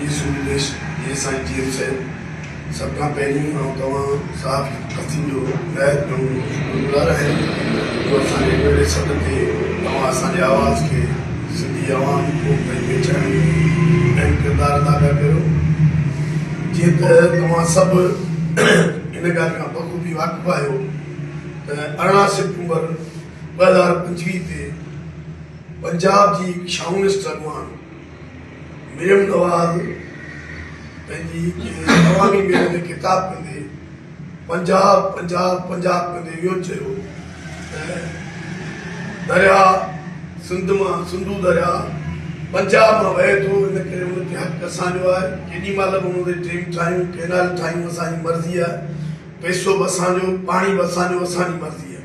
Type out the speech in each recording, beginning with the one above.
جي سود بخش جي سائين جي ايل صاحب سڀ کان پهرين آئون توهان صاحب حسين جو نهايت گهڻو شڪرگذار آهيان جو اسان جي پهرين سڏ تي توهان اسان جي آواز کي سنڌي عوام قوم تائين پهچائڻ ۾ اهم ڪردار ادا پيا ڪريو جيئن ته توهان سڀ ان ڳالهه کان بخوبي واقف آهيو ته ارڙهن سيپٽمبر ٻه هزار پنجويهه تي پنجاب جي هڪ شاونسٽ اڳواڻ مريم نواز پنهنجي ڪنهن عوامي ميل ۾ خطاب ڪندي پنجاب پنجاب پنجاب ڪندي اهو چيو ته درياء سنڌ مان سنڌو درياء پنجاب مان وهي ٿو ان ڪري ان تي حق اسان جو آهي ڪيڏي مهل به ان تي ڊيم ٺاهيون ڪينال ٺاهيون اسان جي مرضي آهي پئسو به اسان جو پاڻي به اسان جو اسان جي مرضي آهي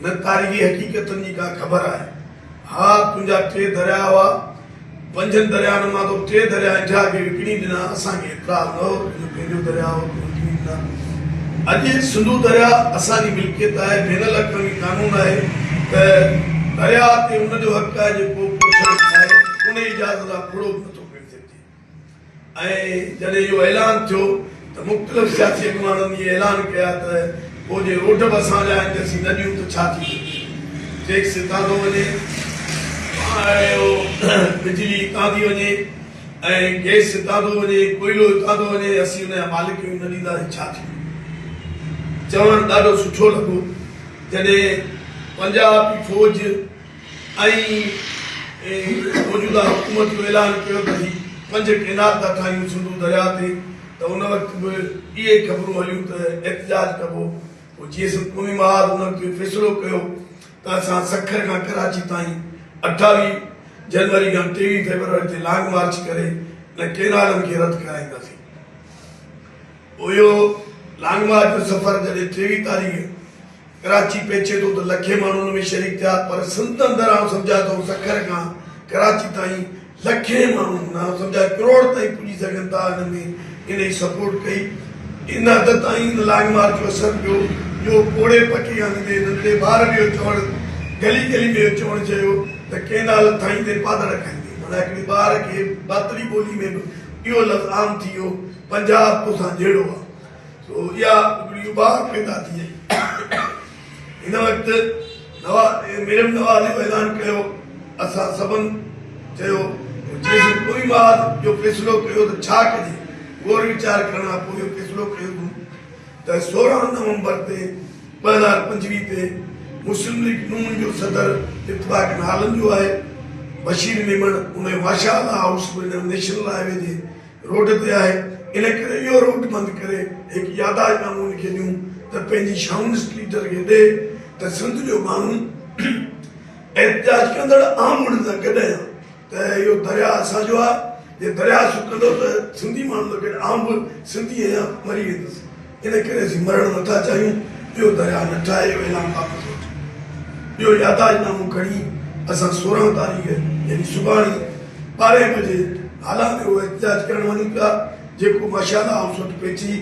نه تاريخي حقيقتن جي ڪا خبر آهي. ها تنهنجا ٽي درياء هئا. پنجن دريائن مان تو ٽي درياء انڊيا کي وڪڻي ڏنا. اسان کي اعتراض نه هو. تنهنجو پنهنجو درياء هو. تون وڪڻي ڏنا. اڄ سنڌو درياء اسان جي ملڪيت آهي. بين الاقوامي قانون آهي ته درياء تي ان جو حق آهي جيڪو ڪو شخص چاهي انهي اجازت کان ڦڙو به نه ٿو ڪري سگهجي. ۽ جڏهن اهو اعلان ٿيو ته مختلف سياسي اڳواڻن اهي اعلان ڪيا ته پوء جي روڊ به اسان جا آهن ته اسين نه ڏيون ته ڇا ٿي سگهي ٿو ٽيڪس هتان ٿو وڃي اهو بجلي هتان ٿي وڃي ۽ گئس هتان ٿو وڃي ڪوئلو هتان ٿو وڃي اسين ان جا مالڪ آهيون نه ڏينداسين ڇا ٿي ويو چوڻ ڏاڍو سٺو لڳو جڏهن پنجاب جي فوج ۽ موجوده حڪومت جو اعلان ڪيو ته هي پنج ڪينال ٿا ٺاهيون سنڌو درياء تي ته ان وقت به اهي خبرون هليون ته احتجاج ڪبو پوء جي ايس قومي محاذ انهن کي فيصلو ڪيو ته اسان سکر کان ڪراچي تائين اٺاويهه جنوري کان ٽيويهه فيبروري تي لانگ مارچ ڪري انهن ڪينالن کي رد ڪرائينداسين پوء اهو لانگ مارچ جو سفر جڏهن ٽيويهه تاريخ ڪراچي پهچي ٿو ته لکين ماڻهو ان ۾ شريڪ ٿيا پر سنڌ اندر آئون سمجهان ٿو سکر کان ڪراچي تائين لکين ماڻهو هوندا آئون سمجهان ڪروڙ تائين پڄي سگهن ٿا ان ۾ انهي سپورٽ ڪئي ان حد تائين ان لانگ مارچ جو اثر پيو جو پوڙهي پٽي آنديندي ننڍي ٻار به اهو چوڻ گلي گلي ۾ اهو چوڻ چيو ته ڪينال ٺاهيندي پادڙ کائيندي معنيٰ هڪڙي ٻار کي ڀاتڙي ٻولي ۾ به اهو لفظ عام ٿي ويو پنجاب توسان جهيڙو آ سو اها ٽڪڙي اڀاڻ پيدا ٿي وئي. هن وقت مريم نواز اهو اعلان ڪيو، اسان سڀن چيو ته جيسين پوري محاذ اهو فيصلو ڪيو ته ڇا ڪجي، غور ويچار ڪرڻ کان پوء اهو فيصلو ڪيو اٿم ته سورهن نومبر تي ٻه هزار پنجويهه تي مسلم ليگ نون جو صدر اتفاقن هالنڊ جو آهي، بشير ميمڻ انهيء ماشاء الله هائوس ورنهن نيشنل هاء وي جي روڊ تي آهي، ان ڪري اهو روٽ بند ڪري هڪ ياداشت نامو لکي ڏيون ته پنهنجي شاهون اسپليٽر کي ڏي ته سنڌ جو ماڻهو احتجاج ڪندڙ عام مڙهه سان گڏ آهيان ته اهو درياهه اسان جو آهي جي درياهه سڪندو ته سنڌي ماڻهن سان گڏ آئون به سنڌي آهيان مري ويندس. ان ڪري اسين مرڻ نٿا چاهيون، ٻيو درياهه نه ٺاهي ويلان بابت سوچيو. ٻيو يادداشت نامو کڻي اسان سورهن تاريخ يعني سڀاڻي ٻارهين بجي هالا ۾ اهو احتجاج ڪرڻ وڃون پيا جيڪو ماشاءالله هائوس وٽ پهچي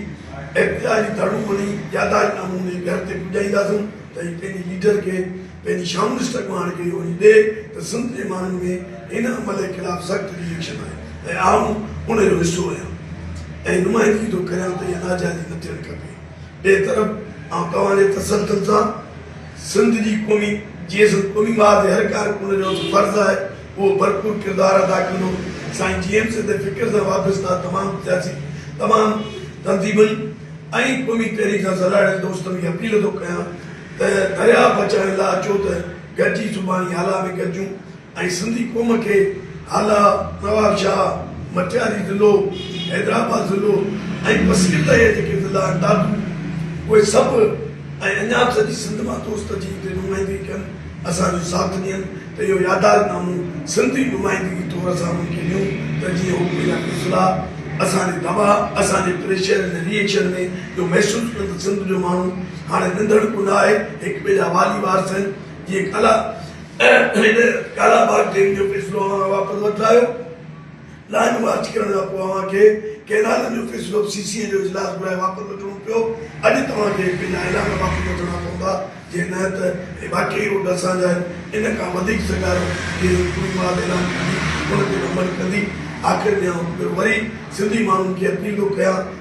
احتجاج جي ڌڙون هڻي يادداشت نامو ۾ گهر تي پڄائينداسون ته هي پنهنجي ليڊر کي پنهنجي شامل اسٽڪ مان هاڻي ڪيئي گهوڙي ڏي ته سنڌ جي ماڻهن ۾ هن عمل جي خلاف سخت ري ايڪشن آهي ۽ آئون ان جو حصو آهيان ۽ نمائندگي ٿو ڪريان ته اها ناجائزي نه ٿيڻ کپي ٻئي طرف آئون توهان جي تسلسل سان سنڌ جي قومي جيئي سنڌ قومي ماء تي هر ڪارڪن جو فرض آهي اهو ڀرپور ڪردار ادا ڪندو سائين جي ايم سي تي فڪر سان وابسته تمام سياسي تمام تنظيمن ۽ قومي تحريڪ سان سلهاڙين دوستن کي اپيل ٿو ڪيان ته درياهه بچائڻ لاء اچو ته گڏجي زباني هالا ۾ گڏجون ۽ سنڌي قوم کي هالا نواب شاهه، مٽياري ضلعو، حيدرآباد ضلعو ۽ بصير تائين جا جيڪي ضلعا آهن دادو اهي سڀ ۽ اڃا به سڄي سنڌ مان دوست اچي هتي نمائندگي ڪن اسان جو ساٿ ڏين ته اهو ياداش نامو سنڌي نمائندگي طور اسان انهن کي ڏيون ته جيئن هو ڪوئي نه ڪوئي صلاح اسان جي دٻاء اسان جي پريشر ۽ ري ايڪشن ۾ اهو محسوس ڪن ته سنڌ جو ماڻهو هاڻي ننڊڙ ڪو نه آهي، هڪ ٻئي جا والي وارث آهن، جيئن ڪالا هن ڪالا باغ ڊيم جو فيصلو اوهان کان واپس وٺرايو، لائن مارچ ڪرڻ کان پوء اوهان کي ڪئنالن جو فيصلو به سي سي اي جو اجلاس گهرائي واپس وٺڻو پيو، اڄ توهان کي هڪ ٻئي جا اعلان واپس وٺڻا پوندا، جي نه ته اهي واقعي روڊ اسان جا آهن، ان کان وڌيڪ سگهارو جي هي ڪوڙي ماڌ اعلان ڪندي، ان تي به عمل ڪندي، آخر ۾ آئون هڪ ڀيرو وري سنڌي ماڻهن کي اپيلون ڪيان.